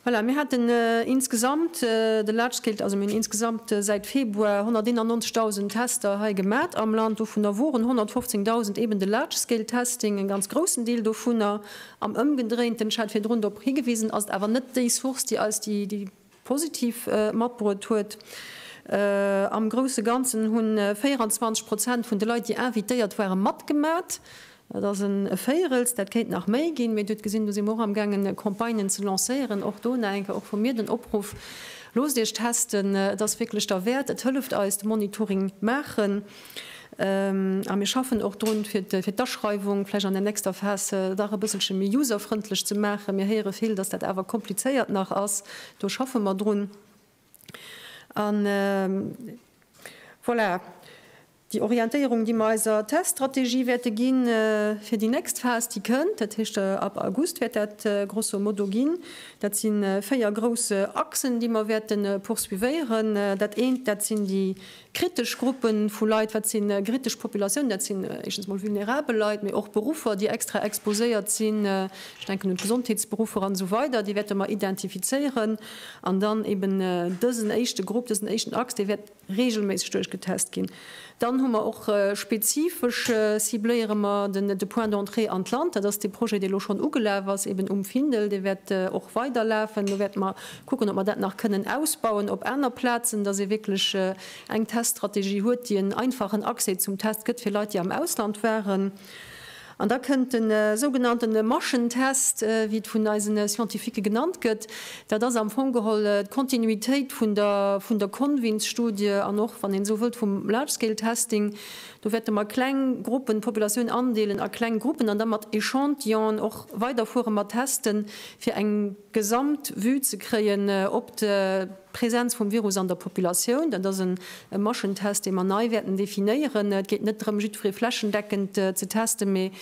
Voilà, mir haten insgesamt de Large-Scale, also mir hunn insgesamt säit Februar 191.000 Tester hei gemat am Land. Dovunner woren 115.000 eeben de Large-Scale-Testing, e ganz groussen Deel dovunner. Am ëmgedréint, den Ech hat virdrun dorop higewisen, ass et awer net déi Source, déi eis déi positiv matbruet huet. Am grousse Ganzen hu 24 Prozent vun de Leit, déi invitéiert ware matgemat. Dat ass e Véirels, dat kéint nach méi ginn. Mee Dir hutt gesinn, do si mer och amgaangen Campagnen ze lancéieren. Och do nach eng Kéier och vu mir den Opruff, Loosst Iech testen, et ass wierklech derwäert, et hëlleft eis, de Monitoring maachen. A mir schaffen och drun, fir d'Aschreiwung vläicht an der nächster Phas dach e bësselche méi userfrëndlech ze maachen. Mir héiere vill, dass dat awer komplizéiert nach ass. Do schaffe mer drun. A voilà, déi Orientéierung, déi mer eiser Teststrategie wäerte ginn fir déi nächst Phas, déi kënnt, dat heescht ab August wäert dat grosso modo ginn, dat si véier grouss Achsen, déi mer wäerte poursuivéieren. Dat eent, dat sinn déi Kritesch Gruppe vu Leit, Wat si kritesch Populatiounen? Dat sinn éischtens emol vulnerabel Leit, mee och Beruffer, déi extra exposéiert sinn. Ech denken un d'Gesondheetsberuffer an esou weider. Déi wäerte mer identifizéieren. An dann eben dësen éischte Grupp, dësen éischten Axe, dee wäert reegelméisseg duerchgetest ginn. Dann hu mer och spezifesch, cibléiere mer de Point d'entrée an d'Land. Dat ass dee Projet, dee elo schonn ugelaf ass, eben um Findel. Dee wäert och weiderlafen. Do wäerte mer Kucken, ob mer dat nach kënnen ausbauen op aner Plazen, dass ee wierklech eng Teststrategie huet, déi en einfachen Accès zum Test gëtt fir Leit, déi am Ausland waren. An da kënnt de sougenannte Maschentest, wéi et vun eise Scientifique genannt gëtt. Dat ass am Fong geholl d'Kontinuitéit vun der Convins-Studie an och, wann een esou wëllt, vum Large-Scale-Testing, Do wäerte mer kleng Gruppen, d'Populatioun andeelen a kleng Gruppen an da mat Echantillonen och weiderfuere mat testen, fir eng Gesamtvue ze kréien op d'Präsenz vum Virus an der Populatioun. Dat ass e Maschentest, dee mer nei wäerten definéieren. Et geet net drëm, jiddweree flächendeckend ze testen, mee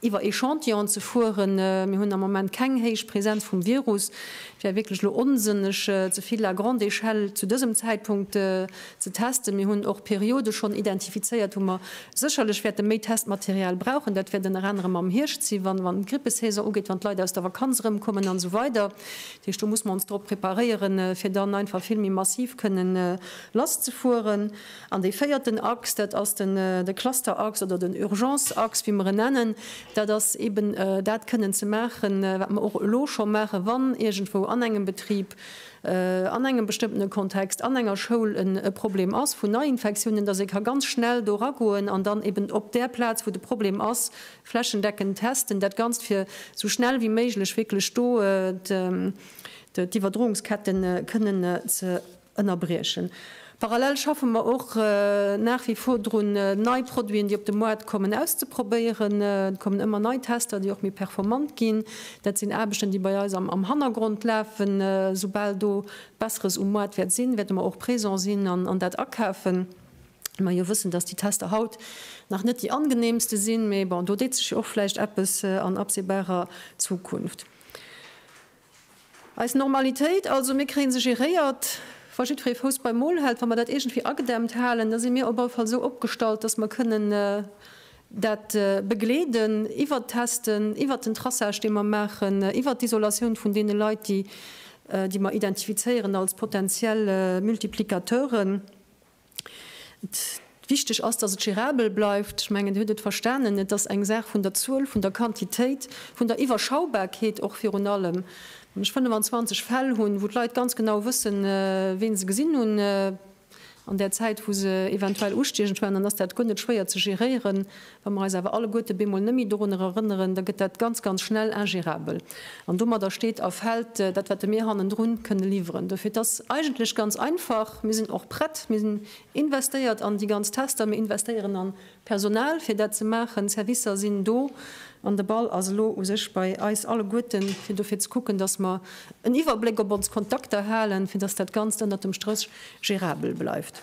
iwwer Echantillonen ze fueren. Mir hunn am Moment keng héich Präsenz vum Virus. Et wär wierklech elo onsënneg, ze vill à grande échelle zu dësem Zäitpunkt ze testen. Mir hunn och Periode schonn identifizéiert, wou mer sécherlech wäerte méi Testmaterial brauchen. Dat wäert ënner anerem am Hierscht sinn, wann d'Grippesaison ugeet, wann d'Leit aus der Vakanz erëmkommen an esou weider. Dat heescht, do muss mer ons drop preparéieren, fir dann einfach vill méi massiv kënnen lasszefueren. An dee véierten Axe, dat ass de Cluster-Axe oder den Urgence-Axe, wéi mer en nennen, dat ass eeben dat kënnen ze maachen, wat mer och elo scho maachen, wann iergendwou an engem Betrib, an engem bestëmmtene Kontext, an enger Schoul e Problem ass vun Neiinfektiounen, dass ee ka ganz schnell do eragoen an dann eeben op där Plaz, wou de Problem ass, flächendeckend testen. Dat Ganzt, fir esou schnell wéi méiglech wierklech do d'Iwwerdroungsketten kënnen ze. ënnerbriechen. Parallel schaffe mer och nach wie vor drun, nei Produiten, déi op de Moart kommen, auszeprobéieren. Et kommen ëmmer nei Tester, déi och méi performant ginn. Dat sinn Aarbechten, déi bei eis am Hannergrond lafen. Soubal do Besseres um Moart wäert sinn, wäerte mer och présent sinn an dat akafen. Well mer jo wëssen, dass déi Tester haut nach net déi angeneemste sinn. Mee bon, do deet sech jo och vläicht eppes an absehbarer Zukunft. Eis Normalitéit also, mir kréie se geréiert, wa jiddweree Fouss beim Mol hält. Wa mer dat iergendwéi agedämmt halen, da si mir op alle Fall esou opgestallt, datt mer kënnen dat begleeden, iwwert d'Testen, iwwert den Traçage, dee mer maachen, iwwert d'Isolatioun vun deene Leit, déi mer identifizéieren als potentiell Multiplicateuren. Wichteg ass, dass et gérabel bleift. Ech mengen, Dir hutt et verstanen, et ass eng Saach vun der Zuel, vun der Quantitéit, vun der Iwwerschaubarkeet och virun allem. Wann ech 25 Fäll hunn, wou d'Leit ganz genau wëssen, wien se gesinn hunn an där Zäit, wou se eventuell ustiechen, ech mengen, dann ass dat guer net schwéier ze géréieren. Wa mer eis awer alleguerte bemol nëmme dorunner erënneren, da gëtt dat ganz, ganz schnell ingérabel. An domadder steet a fält dat, wat mir hannendru kënne liwweren. Dofir, et ass eigentlech ganz einfach, Mir sinn och prett, mir sinn investéiert an déi ganz Tester, mir investéieren a Personal, fir dat ze maachen, d'Servicer sinn do an de Ball ass elo u sech bei eis alleguerten, fir dofir ze kucken, dass mer en Iwwerbléck op ons Kontakter halen, fir dass dat Ganzt ënnert dem Stréch gérabel bleift.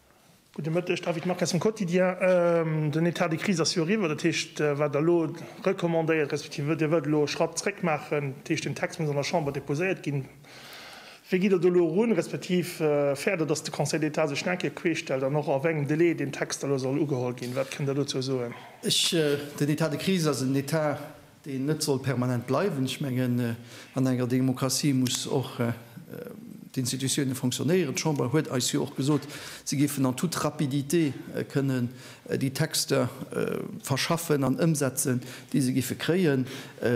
Gudde Mëtteg, David Marques vum Quotidien. Den Etat de crise ass jo eriwwer, dat heescht, wat Der elo recommandéiert, respektiv Dir wëllt elo e Schratt zréck maachen, dat heescht den Text muss an der Chamber déposéiert ginn. Wéi gitt Der do elo erun, respektiv fäert Der, datt de Conseil d'État sech nach eng Kéier queestellt an och a wéngem Delai deen Text da elo soll ugeholl ginn? Wat kënnt Der dozou soen? Den Etat de crise ass en Etat deen net soll permanent bleiwen. Ech mengen, an enger Demokratie muss och d'Institutione fonctionnéieren. D'Chamber huet eis jo och gesot, si géifen en toute rapidité kënnen déi Texter verschaffen an ëmsetzen, déi se géife kréien.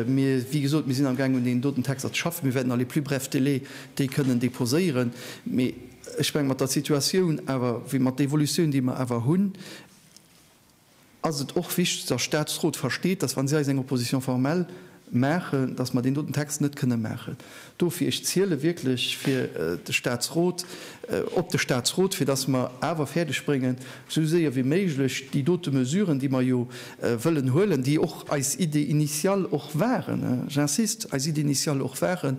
Mir, wéi gesot, mir sinn amgaang un deenen doten Texter ze schaffen. Mir wäerten à les plus brefs délais déi kënnen déposéieren. Mee ech menge mat der Situatioun awer, wéi mat d'Evolutioun, déi mer awer hunn, ass et och wichteg, dass Statsrot versteet, dass, wa si eis eng Opposition formelle maachen, dass mer deen doten Text net kënnen maachen. Dofir, ech ziele wierklech fir de Statsrot, op de Statsrot, fir dass mer awer fäerdeg bréngen, esou séier wéi méiglech déi dote Mesuren, déi mer jo wëllen huelen, déi och eis Idée initiale och waren, j'insiste, eis Idée initiale och waren,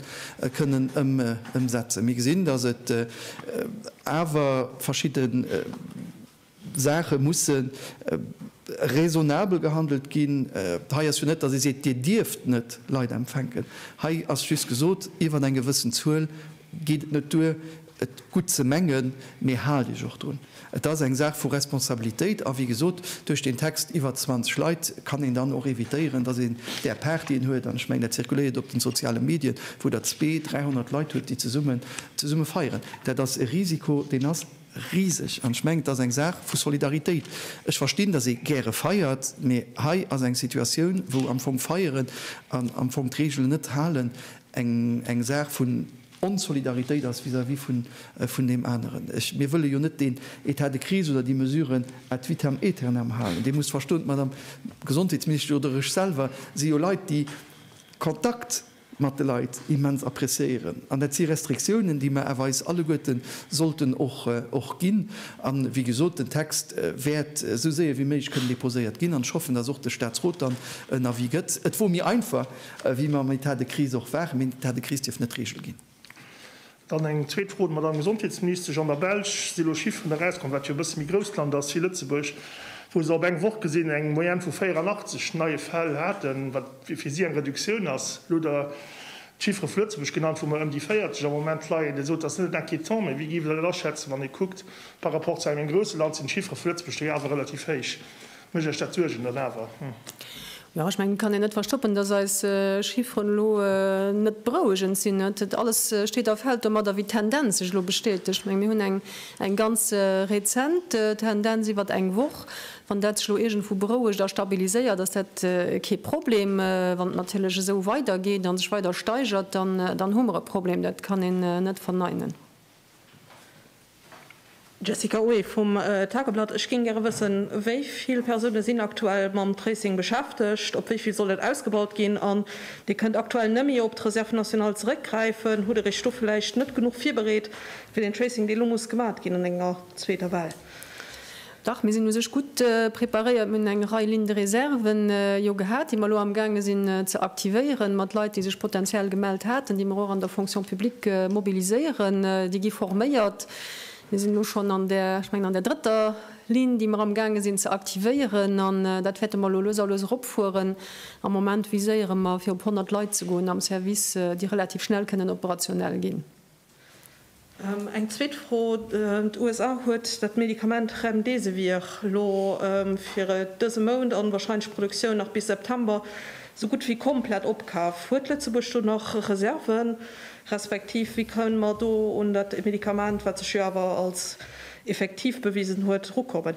kënnen ëmsetzen. Mir gesinn, dass et awer verschidde. Saache musse raisonnabel gehandelt ginn. Hei ass jo net, datt ee seet, Dir dierft net Leit empfänken. Hei ass just gesot, Iwwer eng gewëssen Zuel geet et net duer, et gutt ze mengen, mee haalt Iech och drun. Et ass eng Saach vu Responsabilitéit. A wéi gesot, duerch deen Text iwwer 20 Leit kann een dann och evitéieren, datt een där Paart, déi een huet, an ech mengen, dat zirkuléiert op de soziale Medien, wou Der zwee, dräihonnert Leit hutt, déi zesumme feieren, dat ass e Risiko, deen ass. Riseg. An ech mengen, et ass eng Saach vu Solidaritéit. Ech verstinn, datt ee gäre feiert, mee hei ass eng Situatioun, wou am Fong feieren an am Fong d'Reegelen net halen eng Saach vun Onsolidaritéit ass vis-à-vis vun deem aneren. Mir wëlle jo net deen État de crise oder déi Mesuren ad vitam aeternam halen. Dir musst verstoen, d'Madame Gesondheetsministesch oder ech selwer si jo Leit, déi Kontakt, mat de Leit immens appreciéieren an dat si Restriktiounen, déi mer awer eis alleguerte sollten och ginn. A wéi gesot, den Text wäert esou séier wéi méiglech kënnen déposéiert ginn an ech hoffen, dass och de Statsrot dann en Avis gëtt. Et wor méi einfach, wéi mer am État de crise och waren, mee en État de crise dierf net d'Regel ginn. Dann eng zweet Fro un d'Madamm Gesondheetsministesch. An der Belsch si elo Chifferen erauskomm, wat jo e bësse méi grousst Land ass wéi Lëtzebuerg, wou se op eng Woch gesinn eng Moyenne vu 84 neie Fäll haten, wat fir si eng Reduktioun ass. Elo hutt Der d'Chiffere vu Lëtzebuerg genannt, wou mer ëm déi 40 am Moment leien. Dir sot, dat ass net inquiétant, mä wéi géif Der dat aschätzen, wann ee kuckt par rapport zu engem grousse Land sinn d'Chiffere vu Lëtzebuerg do jo awer relativ héich? Mécht Iech dat Suergen dann awer? Jo, ech mengen, et kann een net verstoppen, dass eis Chiffren elo net berouegend sinn. Net alles steet a fällt domadder, wéi d'Tendenz sech elo bestätegt. Ech menge mir hunn eng ganz rezent Tendenz iwwert eng Woch. Wann dat sech elo iergendwou berouegt a stabiliséiert, ass dat kee Problem. Wann et natierlech esou weidergeet a sech weider steigert, dann hu mer e Problem. Dat kann een net verneinen. Jessica Ueli vum Tageblatt, Ech géing gäre wëssen, wéi vill Persoune sinn aktuell mam Tracing beschäftegt, op wéi vill soll et ausgebaut ginn? An Dir kënnt aktuell nëmme op d'Reserve nationale zeréckgräifen. Hutt Der Iech do vläicht net genuch virbereet fir den Tracing, dee lo muss gemat ginn an enger zweeter Well? Dach, mir sinn u sech gutt preparéiert. Mir hunn eng Rei Lignes de réserve jo gehat, déi mer elo amgaange sinn ze aktivéieren, mat Leit, déi sech potenziell gemellt haten, déi mer och an der Fonction publique mobiliséieren. Déi gi forméiert. Mir sinn elo schonn an där, ech mengen, an där drëtter Ligne, déi mer amgaange sinn ze aktivéieren. An dat wäerte mer elo lues a lues eropfueren. Am Moment viséiere mer, fir op 100 Leit ze goen am Service, déi relativ schnell kënnen operationell ginn. Eng zweet Fro, D'USA huet dat Medikament Remdesivir elo fir dëse Mount an wahrscheinlech d'Produktioun nach bis September esou gutt wéi komplett opkaf. Huet Lëtzebuerg do nach Reserven, respektiv wéi kënnen mer do un dat Medikament, wat sech jo awer als effektiv bewisen huet, erukommen?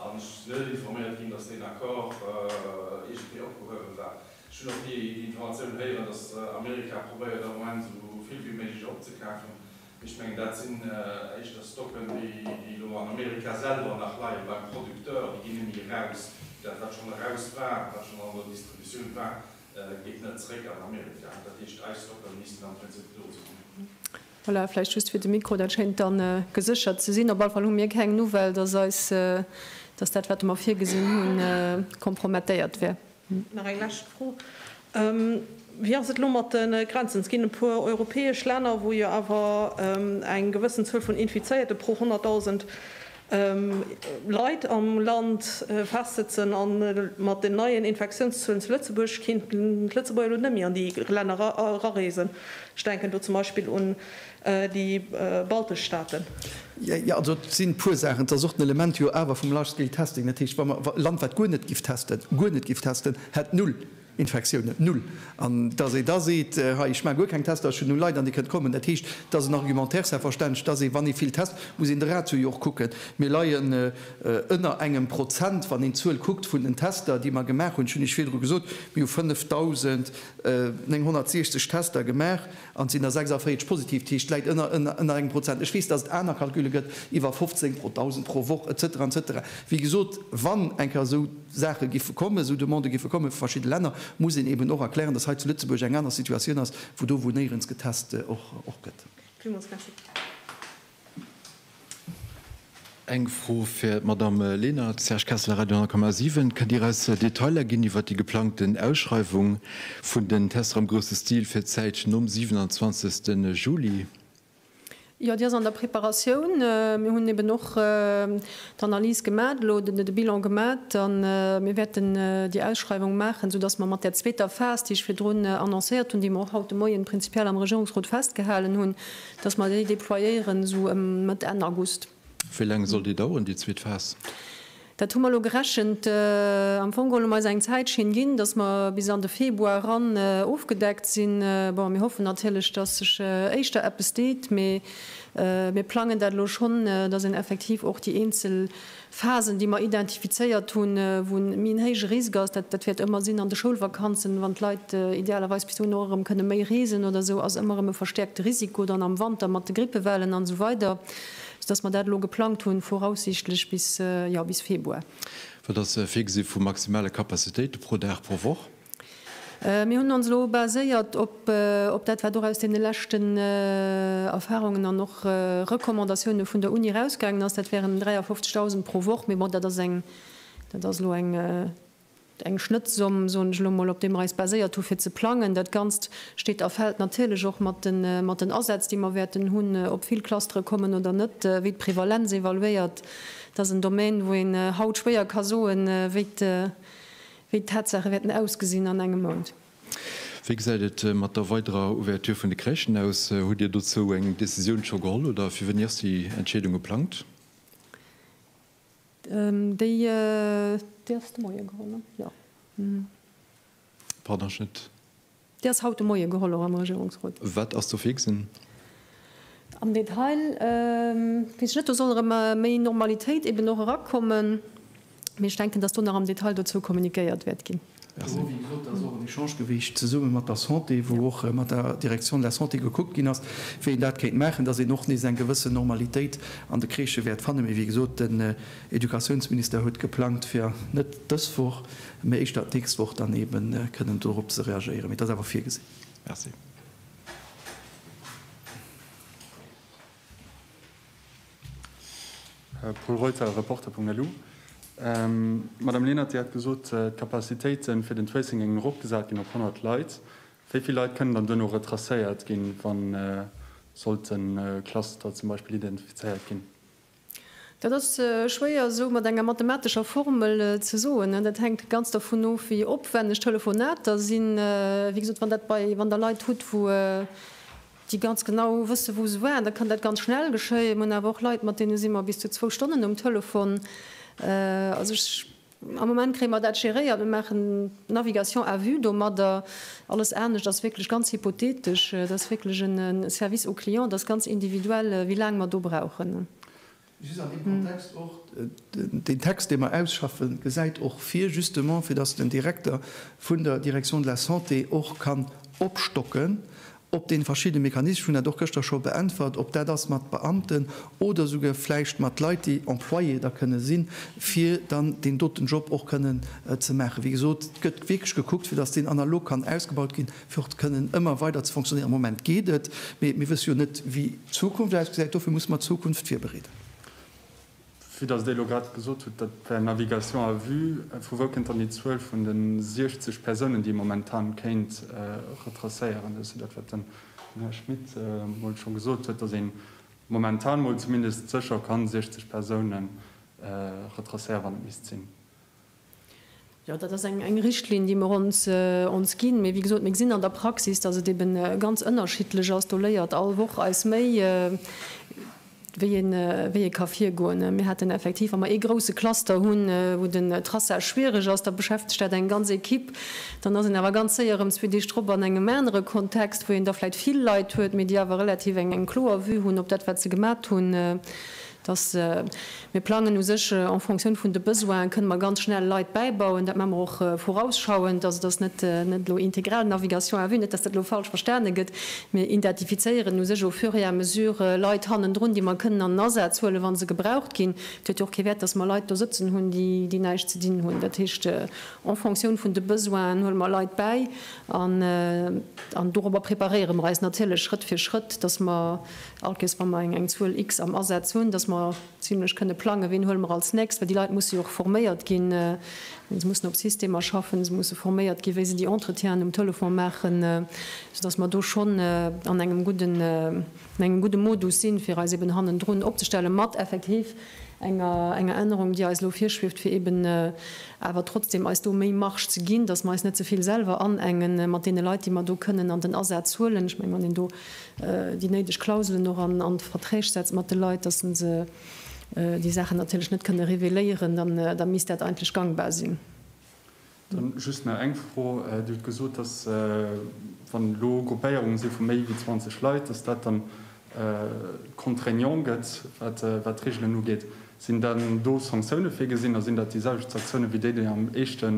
An ech sinn net informéiert ginn, datt deen Accord iergendwéi opgehuewen war. Ech hunn och ni déi Informatioun héieren, datt Amerika probéiert am Moment esou vill wéi méiglech opzekafen. Mee ech mengen, dat sinn éischter Stocken, déi elo an Amerika selwer nach leien, beim Producteur. Déi ginn net méi eraus. Dat, wat schonn eraus war, wat schonn an der Distributioun war, geet net zréck an Amerika. Dat heescht, eis Stocken missten am Prinzip do sinn. Voilà, vläicht just fir de Mikro, dat schéint da geséchert ze sinn. Op alle Fall hu mir keng Nouvelle, dass eis, dass dat, wat mer virgesinn hunn, kompromettéiert wär. Nach eng lescht Fro, Wéi ass et elo mat de Grenzen? Et ginn e puer europäesch Länner, wou jo awer eng gewëssen Zuel vun Infizéierte pro 100.000 Leit am Land festsëtzen a mat den neien Infektiounszuelen zu Lëtzebuerg kéinten d'Lëtzebuerger elo net méi an déi Länner erareesen. Ech denken do zum Beispill un déi baltesch Staaten. Jo, also et sinn e puer Saachen. Et ass och den Element jo awer vum Large-Scale-Testing. Dat heescht, wa mer e Land, wat guer net giff testen, guer net giff testen, hätt null. Infektiounen, null. An dass ee da seet, hei, ech maache guer keng Tester, ech hunn null Leit an déi kënnt kommen, dat heescht, et ass en Argumentaire, selbstverständlech, dass ee, wann ee vill test, muss een de Ratio jo och kucken. Mir leien ënner engem Prozent, wann een d'Zuel kuckt vun den Tester, déi mer gemaach hunn. Ech hunn Iech virdru gesot, mir hu 5.960 Tester gemaach. An et sinn der 46 positiv, dat heescht, et läit ënner engem Prozent. Ech weess, datt et aner Calculle gëtt, iwwer 15 pro Dausend pro Woch, et cetera, et cetera. Wéi gesot, wann eng Kéier esou Saache giffe kommen, esou Demandë giffe kommen vu verschidde Länner, muss een eeben och erklären, datt hei zu Lëtzebuerg eng aner Situatioun ass wou do wou néierens getest och gëtt. Villmools Merci. Eng Fro fir d'Madame Lenert, Serge Kessler, Radio 10,7. Kënnt Dir eis Detailer ginn iwwert déi geplangten Ausschreiwung vun den Tester am grousse Stil fir d'Zäit nom 27. Juli? Jo, déi ass an der Preparatioun. Mir hunn eben och d'Analys gemat elo, de Bilan gemat a mir wäerten déi Ausschreiwung maachen, soudass mer mat där zweeter Phas, déi ech virdrun annoncéiert hunn, déi mer och haut de Moien prinzipiell am Regierungsrot festgehalen hunn, Dass mer déi déployéieren esou ëm Mëtt, Enn August. Wéi laang soll déi daueren, déi zweet Phas? Dat hu mer elo gerechent. Am Fong huele mer eis eng Zäitschinn ginn, dass mer bis an de Februar eran ofgedeckt sinn. Bon, mir hoffen natierlech, dass sech éischter eppes deet, mee mir plangen dat elo schonn, dass een effektiv och déi eenzel Phasen, déi mer identifizéiert hunn, wou e méi en héije Risk ass, dat wäert ëmmer sinn an de Schoulvakanzen, wann d'Leit idealerweis bis dohinner och erëm kënne méi reesen oder esou, ass ëmmer erëm e verstäerkte Risiko dann am Wanter mat de Grippewellen an esou weider, soudass mer dat elo geplangt hunn, voraussichtlech bis, jo, bis Februar. Wat ass virgesi vu maximale Capacitéite pro Dag, pro Woch? Mir hunn ons elo baséiert op dat, wat och aus deene leschten Erfahrungen an och Recommandatioune vun der Uni erausgaangen ass. Dat wären 53.000 pro Woch. Mee bon, dat ass eng, dat ass elo eng, eng Schnëttzomm, soen ech elo mol, op déi mer eis baséiert hu fir ze plangen. Dat Ganzt steet a fält natierlech och mat de, mat den Asätz, déi mer wäerten hunn, ob vill Clustere kommen oder net, wéi d'Prevalenz evaluéiert. Dat ass en Domaine, wou een haut schwéier ka soen, wéi Wéi d'Tatsache wäerten ausgesinn an engem Mount. Wéi gesäit et mat der weiderer Ouverture vun de Crèchen aus? Hutt Dir dozou eng Decisioun scho geholl oder fir wéini ass déi Entscheedung geplangt? Déi. Déi ass haut de Moie geholl, och am Regierungsrot. Wat ass ze fixen? Am Detail weess ech net. Do soll erëm méi Normalitéit eben och erakommen. Mee ech denken, dass do nach am Detail dozou kommuniquéiert wäert ginn. Do hu wéi gesot, ass och en Echange gewiescht zesumme mat der Santé, wou och mat der Direction de la Santé gekuckt ginn ass, wéi een dat kéint maachen, dass een och nees eng gewëssen Normalitéit an de Crèchë wäert fannen. Mee wéi gesot, den Educatiounsminister huet geplangt, fir net dës Woch, Mä éischter d'nächst Woch dann eebe kënnen dorop ze reagéieren. Mee et ass awer virgesinn. Merci. Pol Reuter, Reporter.lu, Madame Lenert, Dir hat gesot, d'Capacitéite fir den Tracing géingen eropgesat ginn op 100 Leit. Wéi vill Leit kënnen dann duerno retracéiert ginn, wa sollt e Cluster zum Beispill identifizéiert ginn? Dat ass schwéier esou mat enger mathematescher Formel ze soen. Dat hänkt ganz dovun of, wéi opwänneg d'Telefonater sinn. Wéi gesot, wann dat bei, wann Der Leit hutt, wou déi ganz genau wësse wou se waren, da kann dat ganz schnell geschéien. Mir hunn awer och Leit, mat deene si mer bis zu zwou Stonnen um Telefon. Also ech Am Moment kréie mer dat geréiert. Mir maachen d'Navigation à vue domadder. Alles anescht ass wierklech ganz hypothetesch. Et ass wierklech e Service au client. Et ass ganz individuell, wéi laang mer do brauchen. Just an deem Kontext och, Deen Text, dee mer ausschaffen, gesäit och vir, justement, fir dass den Direkter vun der Direction de la Santé och kann opstocken op dee verschiddene Mechanismen, ech hunn dat och gëschter scho beäntwert, ob dat ass mat Beamten oder esouguer vläicht mat Leit, déi Employé da kënne sinn, fir dann deen doten Job och kënnen ze maachen. Wéi gesot, et gëtt wierklech gekuckt, fir datt deen analog kann ausgebaut ginn, fir och kënnen ëmmer weider ze fonctionnéieren. Am Moment geet et, mee mir wësse jo net, wéi d'Zukunft ausgesäit. Dofir musse mer d'Zukunft virbereeden. Vue dass Der elo grad gesot hutt, dat wär Navigation à vue, vu wou kënnt dann déi Zuel vun de 60 Persounen, déi ee momentan kéint retracéieren? Dat ass jo dat, wat den Här Schmit mol scho gesot huet, dass ee momentan mol zumindest sécher ka 60 Persounen retracéieren, wann et misst sinn. Jo, dat ass eng Richtlinn, déi mer ons ginn. Mee wéi gesot, mir gesinn an der Praxis, dass et eeben ganz ënnerschiddlech ass. Do léiert all Woch eis méi, wéi ee ka virgoen. Mir haten effektiv, wa mer ee grousse Cluster hunn, wou den Traçage schwiereg ass, da beschäftegt dat eng ganz Ekipp. Dann ass een awer ganz séier erëm zwee Deeg drop an engem anere Kontext, wou een da vläicht vill Leit huet, mee déi awer relativ eng kloer Vue hunn op dat, wat se gemat hunn. dass mir plangen u sech en fonction vun de Besoine kënne mer ganz schnell Leit bäibauen. Dat maache mer och vorausschauend. Also, dass net elo integral Navigation à vue, net dass dat elo falsch verstane gëtt. Mir identifizéieren u sech au fur et à mesure Leit hannendrun, déi mer kënnen an den Asaz huelen, wa se gebraucht ginn. Et huet jo och kee Wäert, dass mer Leit do sëtzen hunn, déi näischt ze dinn hunn. Dat heescht, en fonction vun de Besoinen huele mer Leit bäi an dorobber preparéiere mer eis natierlech Schrëtt fir Schrëtt, dass mer Alkes, wa mer eng Zuel X am Asaz hunn, dass mer zimlech kënne plangen, wien huele mer als nächst, well déi Leit musse jo och forméiert ginn, se mussen op Systemer schaffen, se musse forméiert ginn, wéi se déi Entretienen um Telefon maachen, soudass mer do schonn an engem gudden, an engem gudde Modus sinn, fir eis eeben hannendrun opzestellen, mat effektiv enger, enger Ännerung, déi eis elo virschwieft, fir eeben awer trotzdem eis do méi Marge ze ginn, dass mer eis net ze vill selwer anengen mat deene Leit, déi mer do kënnen an den Asaz huelen. Ech mengen, wann een do déi néideg Klauselen och an d'Verträg setzt mat de Leit, datt se déi Saachen natierlech net kënne reveléieren, da misst dat eigentlech gangbar sinn. Dann just nach eng Fro, Dir hutt gesot, datt wann elo Gruppéierunge si vu méi wéi 20 Leit, datt dat dann contraignant gëtt, wat d'Reegelen ugeet. Sinn dann do Sanktioune virgesinn a sinn dat déi selwecht Sanktioune wéi déi, déi am éischte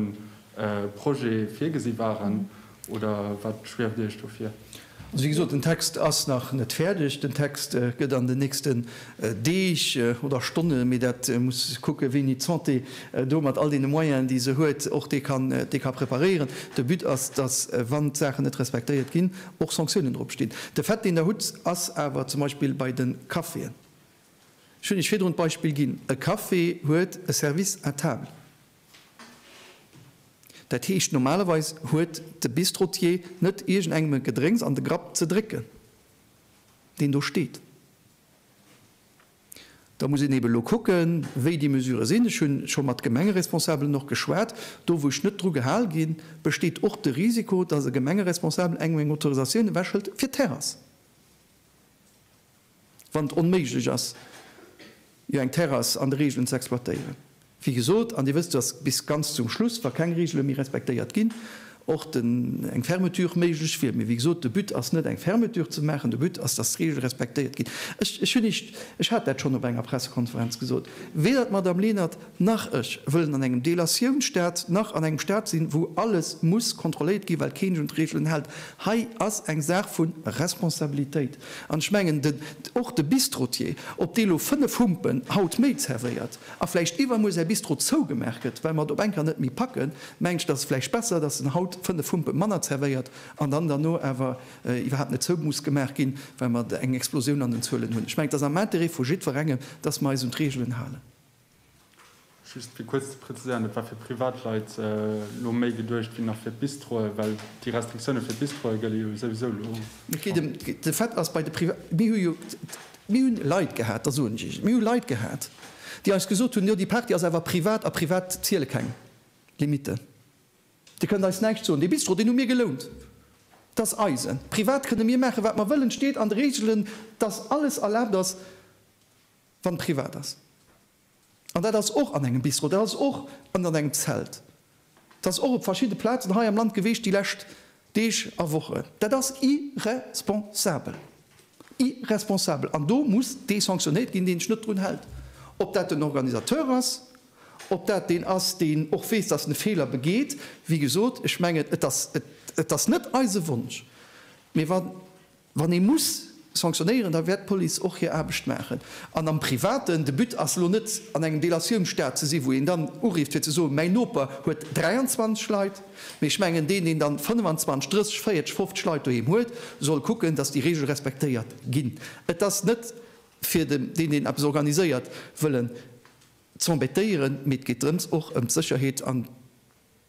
Projet virgesi waren, oder wat schwieft Iech do vir? Also wéi gesot, den Text ass nach net fäerdeg. Den Text gëtt an den nächsten Deeg oder Stonne, mee dat muss kucke wéini d'Santé do mat all deene Moyenen, déi se huet, och dee kann, dee ka preparéieren. De But ass, datt wann d'Saachen net respektéiert ginn, och Sanktiounen drop stinn. De Fait, deen Der hutt, ass awer zum Beispill bei de Caféen, ech hunn Iech virdrun d'Beispill ginn, e Café huet e Service à table, Dat heescht, normalerweis huet de Bistrotier net iergendengem e Gedrénks an de Grapp ze drécken, deen do steet. Da muss een eeben elo kucken, wéi déi Mesurë sinn. Ech hu scho mat Gemengeresponsabelen och geschwat. Do, wou ech net dru gehal ginn, besteet och de Risiko, dass e Gemengeresponsabel engem eng Autorisatioun ewechhëlt fir d'Terrass. wann et onméiglech ass, jo eng Terrass an de Reegelen ze exploitéieren. Wéi gesot, an Dir wësst, dass bis ganz zum Schluss, wa keng Reegele méi respektéiert ginn, och den, eng Fermeture méiglech wier. Mee wéi gesot, de But ass net, eng Fermeture ze maachen, de But ass, dass d'Reegele respektéiert ginn. Ech hunn, ech hat dat schonn op enger Pressekonferenz gesot, weder d'Madamm Lenert, Nach ech wëllen an engem Delatiounstaat, nach an engem Staat sinn, wou alles muss kontrolléiert ginn, well keen sech un d'Reegelen hält. Hei ass eng Saach vu Responsabilitéit. An ech mengen, den, och de Bistrotier, ob dee lo fënnef Humpen haut méi zervéiert a vläicht iwwermuer säi Bistro zougemaach gëtt, well mer et op eng Kéier net méi packen, mengen ech, dass et vläicht besser, dass en haut fënnef Humpe manner zervéiert an dann derno awer iwwerhaapt net zou muss gemaach ginn, well mer eng Explosioun an den Zuelen hunn. Ech mengen, et ass am Intérêt vu jiddwerengem, dass mer eis un d'Reegelen halen. Just fir kuerz ze präziséieren, Et war fir Privatleit elo méi geduecht wéi nach fir d'Bistroe, well déi Restriktioune fir d'Bistroe gëlle jo souwisou elo. Et geet ëm de Fait, ass bei de Priva, mir hu jo, mir hunn Leit gehat, da soen ech Iech, mir hu Leit gehat, déi eis gesot hunn, jo déi Party ass awer privat a privat ziele keng Limitten. Dir kënnt eis näischt soen. Dee Bistro, deen hu mir gelount, dat ass eisen. Privat kënne mir maachen, wat mer wëllen. Et steet an de Reegelen, dass alles erlaabt ass. wann privat ass, an dat ass och an engem Bistro, dat ass och ënnert engem Zelt, dat ass och op verschidde Plazen hei am Land gewiescht déi lescht Deeg a Wochen, dat ass irresponsabel, irresponsabel! An do muss dee sanctionéiert ginn, deen sech net drun hält, ob dat den Organisateur ass, ob dat deen ass, deen och weess, dass en e Feeler begeet. Wéi gesot, ech mengen, et ass net eise Wonsch, mee wa. Wann ee muss sanctionéieren, da wäert d'Police och hir Aarbecht maachen. An am Privaten, de But ass elo net an engem Delatiounsstat ze si wou een dann urifft fir ze soen, mäin Noper huet 23 Leit, mee ech mengen deen, deen dann 25, 30, 40, 50 Leit doheem huet, soll kucken, datt déi Reegel respektéiert ginn. Et ass net fir den, deen deen eppes organiséiert, wëllen z'embêtéieren, mee et geet drëms och ëm d'Sécherheet an.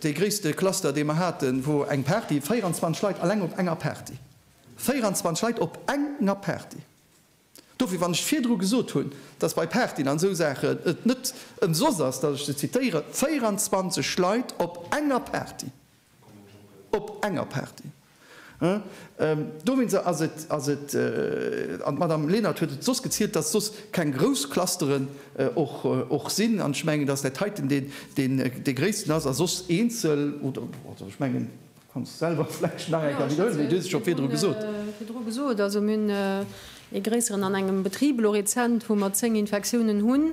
Dee gréisste Cluster, dee mer haten, wor eng Party, 24 Leit alleng op enger Party! 24 Leit op enger Party! Dofir, wann ech virdru gesot hunn, dass bei Partyen an esou Saachen et net ëmsoss ass, dass ech se zitéieren, 24 Leit op enger Party! Op enger Party! Dowéinst ass et, ass et, an d'Madame Lenert huet et soss gezielt, dass soss keng grouss Clusteren och, och sinn, an ech mengen, dass dat heiten deen, deen dee gréissten ass, a soss eenzel oder, also ech mengen, du kanns selwer vläicht nach eng Kéier widderhuelen, mee du hues et scho virdru gesot. Virdru gesot, also mir hunn ee gréisseren an engem Betrib elo rezent, wou mer zéng Infektiounen hunn,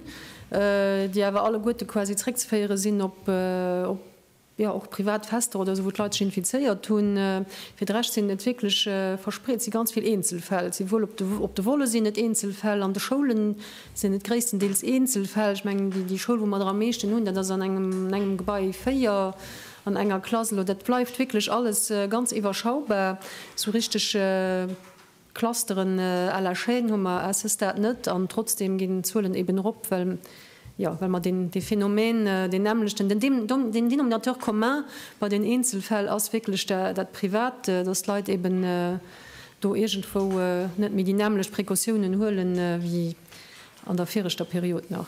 déi awer alleguerte quasi zréckzeféiere sinn op, op. Jo, och privat Fester oder esou, wou d'Leit sech infizéiert hunn. Fir de Rescht sinn et wierklech verspreet, et si ganz vill Eenzelfäll. Souwuel op de Volle sinn et Eenzelfäll, an de Schoule sinn et gréisstendeels Eenzelfäll. Ech mengen, déi Schoul, wou mer der am meeschten hunn, dat ass an engem Gebai 4, an enger Klass. Elo dat bleift wierklech alles ganz iwwerschaubar. Esou richteg. Clusteren à la Chaîne hu mer à ce stade net, an trotzdem ginn d'Zuelen eben erop, well, jo, well mer deen, dee Phänomen, deen nämmlechten, den Dem, Dom, den Denominateur commun bei den Eenzelfäll ass wierklech da, dat Privat, dass d'Leit eben do iergendwou net méi déi nämmlecht Précautiounen huelen wéi an der viregter Period nach.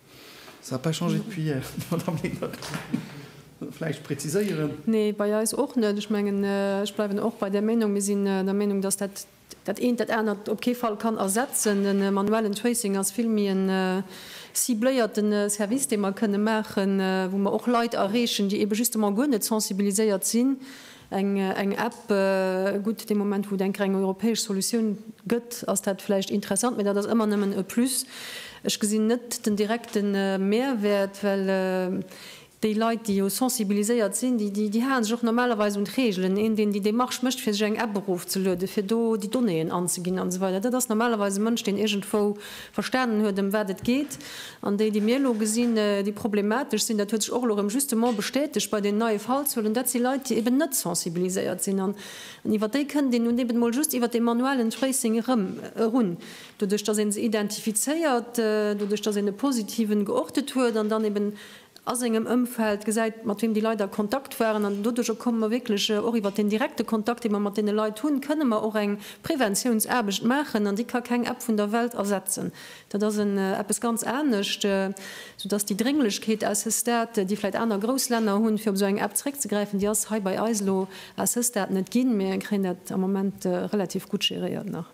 Ça a pas changé depuis hier, Madame Legner. Vläicht präziséieren. Nee, bei eis och net. Ech mengen, ech bleiwen och bei där Meinung. Mir sinn der Meinung, dass dat dat eent dat anert op kee Fall kann ersetzen. De manuellen Tracing ass vill méi e cibléierte Service, dee mer kënnen maachen, wou mer och Leit erreechen, déi eebe justement guer net sensibiliséiert sinn. Eng App, gutt, dee Moment wou et eng reng europäesch Solutioun gëtt, ass dat vläicht interessant, mee dat ass ëmmer nëmmen e Plus. Ech gesinn net den direkte Mehrwäert, well déi Leit, déi jo sensibiliséiert sinn, déi hale sech och normalerweis un d'Reegelen. Een, deen déi Demarche mécht, fir sech eng App erofzelueden, fir do déi Donnéeën anzeginn an esou weider, dat ass normalerweis e Mënsch, deen iergendwou verstanen huet ëm wat et geet, an déi déi mir elo gesinn, déi problematesch sinn, dat huet sech och elo erëm justement bestätegt bei den neie Fallzuelen, dat si Leit déi eben net sensibiliséiert sinn an iwwer déi kënnt een nun eben mol just iwwer dee manuellen Tracing erëm erun, doduerch datt ee se identifizéiert, doduerch datt een e positiven geortet huet an dann eben a sengem Ëmfeld, gesäit, mat weem déi Leit a Kontakt waren. An doduerjer komme mer wierklech och iwwer deen direkte Kontakt, dee mer mat deene Leit hunn, kënne mer och eng Preventiounsaarbecht maachen. An déi ka keng App vun der Welt ersetzen. Dat ass en eppes ganz anescht, soudass déi Drénglechkeet à ce stade, déi vläicht aner grouss Länner hunn, fir op esou eng App zréckzegräifen, déi ass hei bei eis elo à ce stade net ginn. Mir kréien dat am Moment relativ gutt geréiert nach.